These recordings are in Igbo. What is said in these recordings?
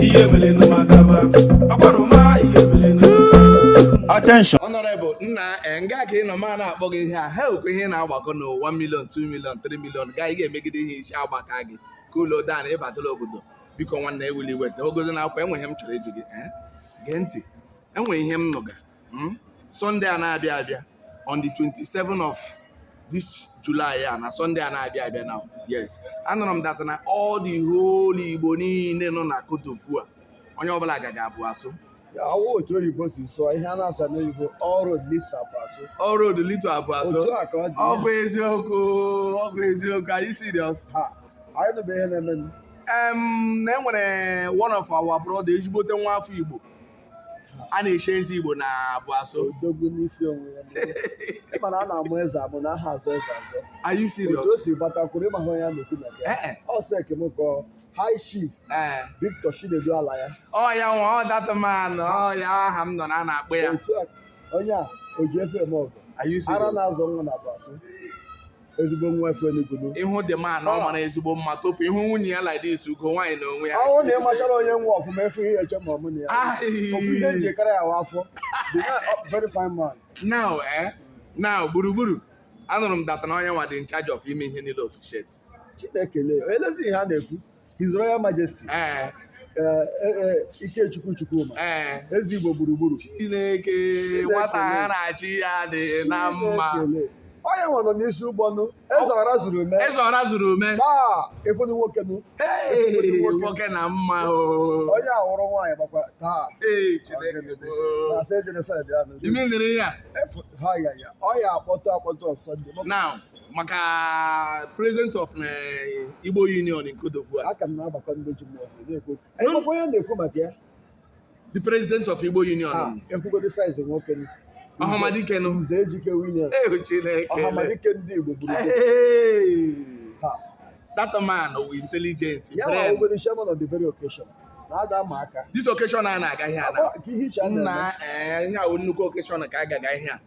ihe mere na magaba akwara ụma ihe mere na Attention. Honorable nna eh, nga ka ị nọ ma a na-akpọ gị ihe a ha ekwe ihe na-agbakọ na 1 million 2 million 3 million ga ị ga-emegide ihe isi agbaka gị ka ụlọ dan ịbatala obodo biko nwanne ewuli iwe dee ogodo na akwa enwe ihe m chọrọ ịjụ gị eh? gee ntị enwe ihe m nụga hmm? Sunday a na-abịa abịa on the 27th of this July a na Sunday a na-abịa abịa now yes anụrụ m that na all the whole Igbo niile nọ na Cote d'Ivoire onye ọbụla gaga Aboisso ọwụ otu oyibo si sụọ ihe a na-asụ n'oyibo all road leads to Aboisso all road leads to Aboisso otu a ka ọ dị ọ bụ eziokwu ọ bụ eziokwu are you serious ha anyị nụbe ihe na-eme na enwere one of our brother ezigbote nwa afọ Igbo a na-echi eze Igbo na Aboisso odogwu n'isi onwe ya mana a na-amụ eze amụ anaha azọ eze azọ are you serious otu o si gbatakwuru ịma hụ ya na-ekwu maka ya eh, eh. ọ sị ekemụkọ high chief eh. Victor Chinedu ala ya ọ ya nwa ọ that man ọ ya aha m nọ na a na-akpọ ya onye a o ji ife eme ọgọ ara na-azụ nwa na Aboisso ezigbo nwa afọ Enugu ịhụ the man ọ mara ezigbo mma tupu ịhụ nwunye ya like this ugo nwaanyị na onwe ya ahụ na ịmachara onye nwa ọfụma efu ihe eche ma ọmụ na ya okwude nje kara ya afọ very fine man now eh now gburugburu anụrụ m that na onye nwa dị in charge of ime ihe niile officiate Chineke lee elezi ihe a na-ekwu His Royal Majesty ee eh, eh, eh, Ikechukwu Chukwuma ee eze Igbo gburugburu Chineke nwata ha na chi ya dị na mma onye nwa dị n'isi ụgbọ nụ eze ọra zurume eze ọra zurume taa efunu nwoke nụ nwoke na mma onye ahụrụ nwaanyị gbakwa taa na-asa ejere side ya n'ụdị imiliri ya ọ ya akpọtụ akpọtụ on Sunday maka president of eh, Igbo Union in Cote d'Ivoire. Aka m na-agbakọ ndị ji mmụọ na-ekwu. Anyị makwa onye na-ekwu maka ya. The president of Igbo Union. Ah, ekwugodị size nwoke ni. Ọhamadike nụ. Nze Ejike Williams. Ee eh, Chineke. Ọhamadike ndị Igbo gburu. That man wụ intelligent. Ya wa bụgodo chairman of the very occasion. na-ada ama aka this occasion a na-aga ihe a na ihe a nnukwu occasion ka a gaga ihe a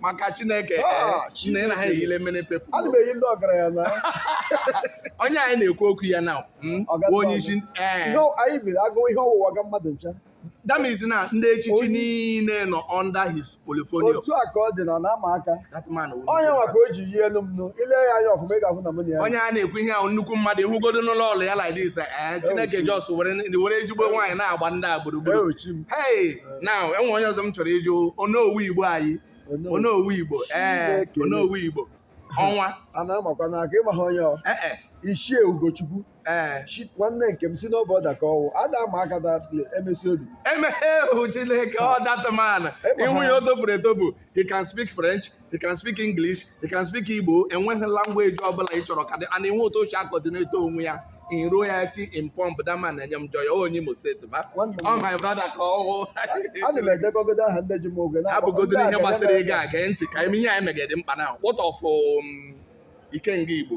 maka chineke ah, eh, na ị na ha eyile many people onye anyị na-ekwu okwu ya na hmm, onye isi eh. that means na ndị echichi niile nọ under his portfolio otu a ka ọ dị na na-ama aka onye nwa ka o ji yi elu m nụ ile ya anya ọfụma ị ga-ahụ na m ya onye a na-ekwu ihe ahụ nnukwu mmadụ ịhụgodo n'ụlọ ọlụ ya like this eh, chineke just were ezigbo nwaanyị na-agba ndị a gburugburu now enwe onye ọzọ m chọrọ ịjụ onowu igbo anyị onowu igbo ee eh, onowu igbo ọnwa a na-amakwa n'aka ị maha onye ọ eh, eh. ichie ugochukwu nwanne nke m si n'obe ọda ka ọwụ ada ama aka emesi obi emeghe chineke ọ that man ị hụ ya o topụrụ etopụ he can speak french he can speak English he can speak Igbo enweghị language ọbụla ị chọrọ ka and enwe otu o si a-coordinate onwe ya in royalty in pomp that man na-enye m joy onye Imo State ba ọ oh, my brother ka ọwụ abụgodo ihe gbasara ego a gee ntị ka ime ihe anyị megede mkpa na what of um, ikenga Igbo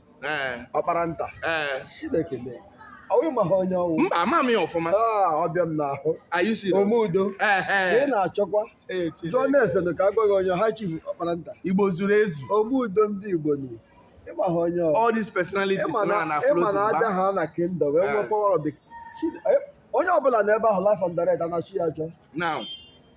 ee ọkpara nta ee chineke lee ọwụ ị maha onye ọwụ mba ama m ya ọfụma aa ọbịa m n'ahụ anyị si ome udo ị ehe na-achọkwa jụọ na-esenụ ka a gwa gị onye high chief ọkpara nta igbo zuru ezu ome udo ndị igbo ni ị maha onye ọwụ all these personalities ịma na na na ịma na floating abịa back. ha na kingdom wee Eh. nwee power of the Chi- eh, onye ọbụla na ebe ahụ live and direct a na-achọ ya achọ now